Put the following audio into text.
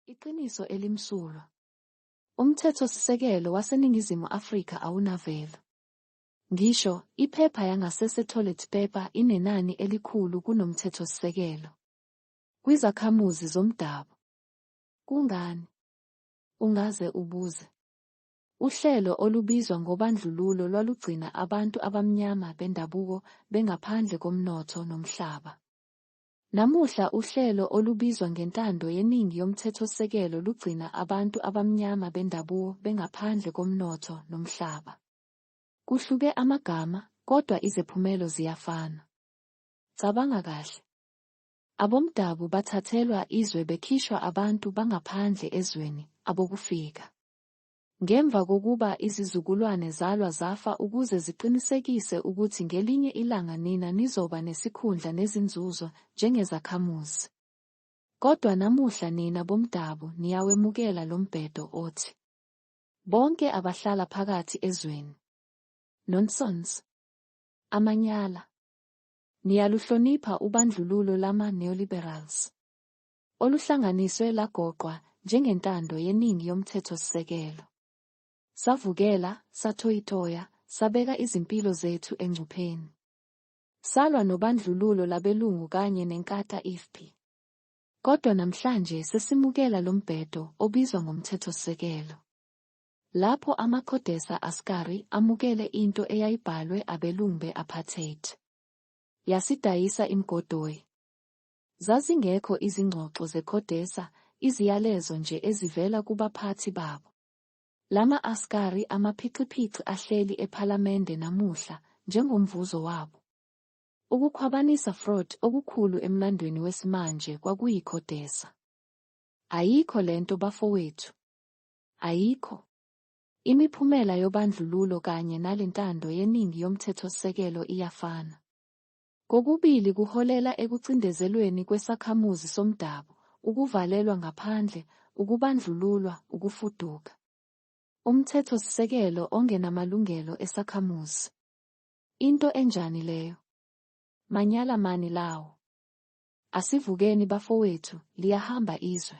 Iqiniso elimsulwa. Umthethosisekelo waseNingizimu Afrika awunavelo. Ngisho, iphepha yangasese toilet paper inenani elikhulu kunomthethosisekelo. Kwizakhamuzi zomdabu. Kungani? Ungaze ubuze. Uhlelo olubizwa ngobandlululo lwalugcina abantu abamnyama bendabuko bengaphandle komnotho nomhlaba. Namuhla uhlelo olubizwa ngentando yeningi yomthethosisekelo lugcina abantu abamnyama bendabuo bengaphandle komnotho nomhlaba. Kuhluke amagama, kodwa izephumelo ziyafana. Cabanga kahle. Abomdabu bathathelwa izwe bekhishwa abantu bangaphandle ezweni, abokufika. Ngemva kokuba izizukulwane zalwa zafa ukuze ziqinisekise ukuthi ngelinye ilanga nina nizoba nesikhundla nezinzuzo njengezakhamuzi. Kodwa namuhla nina bomdabu niyawemukela lo mbhedo othi bonke abahlala phakathi ezweni. Nonsense. Amanyala. Niyaluhlonipha ubandlululo lama-neoliberals. oluhlanganiswe lagoqwa njengentando yeningi yoMthethosisekelo, savukela, sathoyitoya, sabeka izimpilo zethu engcupheni, salwa nobandlululo labelungu kanye neNkatha ifpi. Kodwa namhlanje sesimukela lo mbhedo obizwa ngoMthethosisekelo, lapho amaCodesa Askari amukele into eyayibhalwe abelungu be-apartheid, yasidayisa imgodoyi. Zazingekho izingxoxo zeCodesa, iziyalezo nje ezivela kubaphathi babo. Lama askari amaphixiphixi ahleli ephalamende namuhla, njengomvuzo wabo. Ukukhwabanisa fraud okukhulu emlandweni wesimanje kwakuyi Codesa. Ayikho lento bafowethu. Ayikho. Imiphumela yobandlululo kanye nalentando yeningi yomthethosisekelo iyafana. Kokubili kuholela ekucindezelweni kwesakhamuzi somdabu, ukuvalelwa ngaphandle, ukubandlululwa, ukufuduka. Umthethosisekelo ongenamalungelo esakhamuzi. Into enjani leyo? Manyala mani lawo? Asivukeni bafowethu, liyahamba izwe.